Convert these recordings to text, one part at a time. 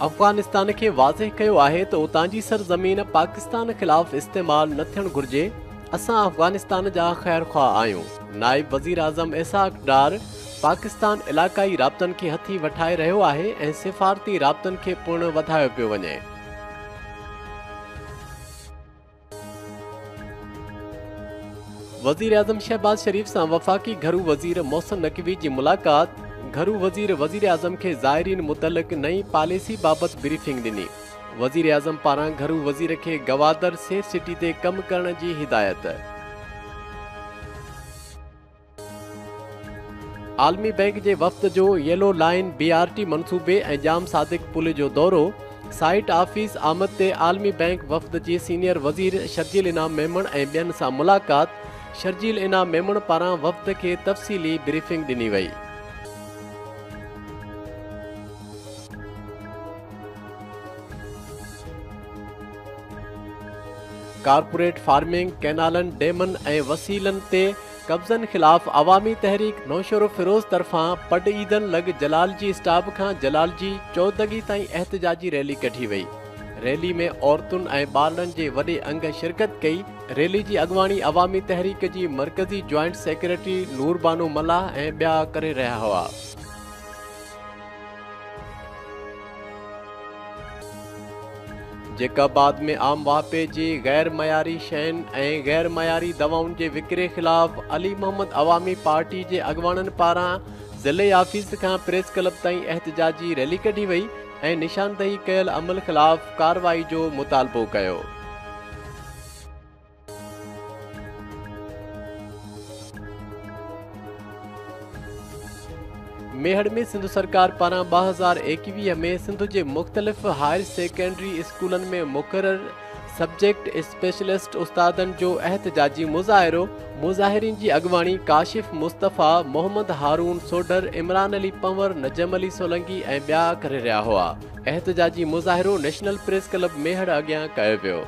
افغانستان کي واضح ڪيو آهي ته اتان جي سرزمين پاڪستان خلاف استعمال نه ٿيڻ گهرجي، اسان افغانستان جا خيرخواهه آهيون، نائب وزيراعظم اسحاق ڊار پاڪستان علاقائي رابطن کي هٿي وٺائي رهيو آهي ۽ سفارتي رابطن کي پڻ وڌايو پيو وڃي. وزيراعظم شهباز شريف سان وفاقي گهرو وزير محسن نقوي جي ملاقات، گهرو وزير وزيراعظم کي زائرين متعلق نئين پاليسي بابت بريفنگ ڏني، وزيراعظم پاران گهرو وزير کي گوادر سيف سٽي تي ڪم ڪرڻ جي هدايت. عالمي بئنڪ جي وفد جو yellow line B R T منصوبي ۽ ڄام صادق پل جو دورو سائيٽ آفيس آمد تي عالمي بئنڪ وفد جي سينيئر وزير شرجيل انعام ميمڻ ۽ ٻين سان ملاقات شرجيل انعام ميمڻ پاران وفد کي تفصيلي بريفنگ ڏني وئي ڪارپوريٽ فارمنگ، ڪئنالن، ڊيمن ۽ وسيلن تي قبضن خلاف عوامي تحريڪ نوشهروفيروز طرفان پڊ عيدن لڳ جلال جي اسٽاپ کان جلال جي چودڳي تائين احتجاجي ريلي ڪڍي وئي. ريلي ۾ عورتن ۽ ٻارڙن جي وڏي انگ شرڪت ڪئي. ريلي جي اڳواڻي عوامي تحريڪ جي مرڪزي جوائنٽ سيڪريٽري نور بانو ملاح ۽ ٻيا ڪري رهيا هئا. جيڪا بعد ۾ عام واهپي جي غير معياري شين ۽ غير معياري دوائن جي وڪري خلاف علي محمد عوامي پارٽي جي اڳواڻن پاران ضلعي آفيس کان پريس ڪلب تائين احتجاجي ريلي ڪڍي وئي ۽ نشاندهي ڪيل عمل خلاف ڪارروائي جو مطالبو ڪيو. ميهڙ ۾ سنڌ سرڪار پاران ٻه هزار ايڪويهه ۾ سنڌ جي مختلف هائر سيڪنڊري اسڪولن ۾ مقرر سبجيڪٽ اسپيشلسٽ استادن جو احتجاجي مظاهرو مظاهرين جي اڳواڻي ڪاشف مصطفيٰ محمد هارون سوڍر عمران علي پنور نجم علي سولنگي ۽ ٻيا ڪري رهيا هئا احتجاجي مظاهرو نيشنل پريس ڪلب ميهڙ اڳيان ڪيو ويو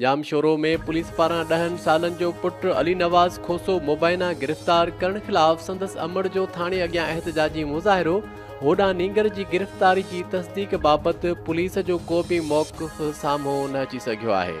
ڄامشورو ۾ پوليس پاران ڏهن سالن جو پٽ علي نواز کوسو مبينا گرفتار ڪرڻ خلاف سندس امڙ جو ٿاڻي اڳيان احتجاجي مظاهرو، هوڏانهن نينگر جي گرفتاري جي تصديق بابت پوليس جو ڪو به موقف سامهون نه اچي سگهيو آهي.